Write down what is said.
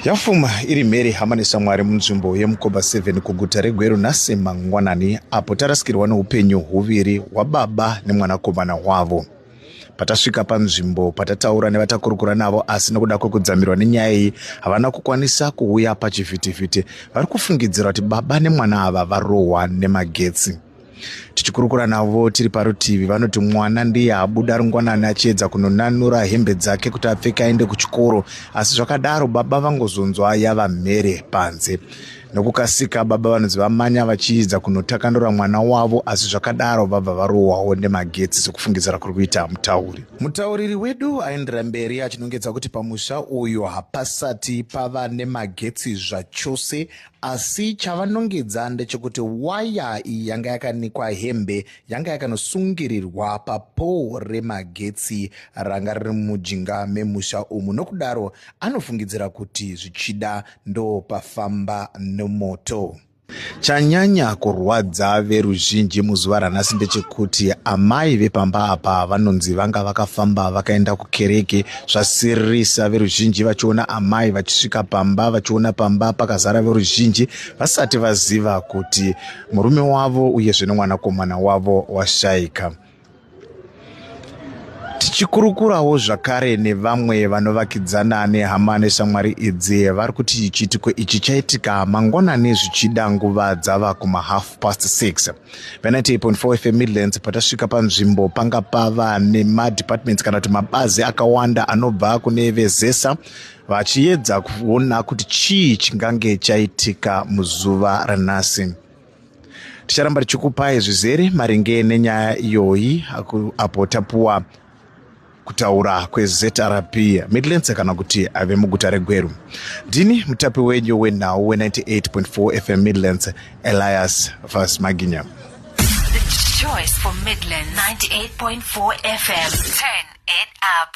yafuma iri mheri hama nesamwari munzvimbo yemukoba 7 kuguta regweru nhasi mangwanani apo tarasikirwa neupenyu huviri hwababa nemwanakomana hwavo patasvika panzvimbo patataura nevatakurukura navo asi nokuda kwekudzamirwa nenyaya iyi havana kukwanisa kuuya pachivhitivhiti vari kufungidzira kuti baba nemwana ava varohwa nemagetsi tichikurukura navo tiri parutivi vanoti mwana ndiye abuda rungwanani achiedza kunonanura hembe dzake kuti apfeke aende kuchikoro asi zvakadaro baba vangozonzwa yava mhere panze nokukasika baba vanonzi vamanya vachiidza kunotakanura mwana wavo asi zvakadaro vabva varohwawo nemagetsi sekufungidzira kuri kuita mutauri mutauriri wedu aendera mberi achinongedza kuti pamusha uyu hapasati pava nemagetsi zvachose Asi chavanongedza ndechekuti waya iyi yanga yakanikwa hembe yanga yakanosungirirwa papoo remagetsi ranga riri mujinga memusha umu nokudaro anofungidzira kuti zvichida ndopafamba nomoto. Chanyanya kurwadza veruzhinji muzuva ranhasi ndechekuti amai vepamba apa vanonzi vanga vakafamba vakaenda kukereke zvasiririsa veruzhinji vachiona amai vachisvika pamba vachiona pamba pakazara veruzhinji vasati vaziva kuti murume wavo uyezve nemwanakomana wavo washaika tichikurukurawo zvakare nevamwe vanovakidzana nehama neshamwari idzi vari kuti chiitiko ichi chaitika mangwanani zvichida nguva dzava kumahalf past 6 pa98.4 fm midlands patasvika panzvimbo panga pava nemadepartments kana kuti mabazi akawanda anobva kune vezesa vachiyedza kuona kuti chii chingange chaitika muzuva ranhasi ticharamba tichikupai zvizere maringe nenyaya iyoyi apo tapuwa kutaura kweZRP Midlands kana kuti ave muguta reGweru. Ndini mutapi wenyu wenhau we-98.4 FM Midlands, Elias Vas Maginya. The choice for Midlands 98.4 FM. Turn it up.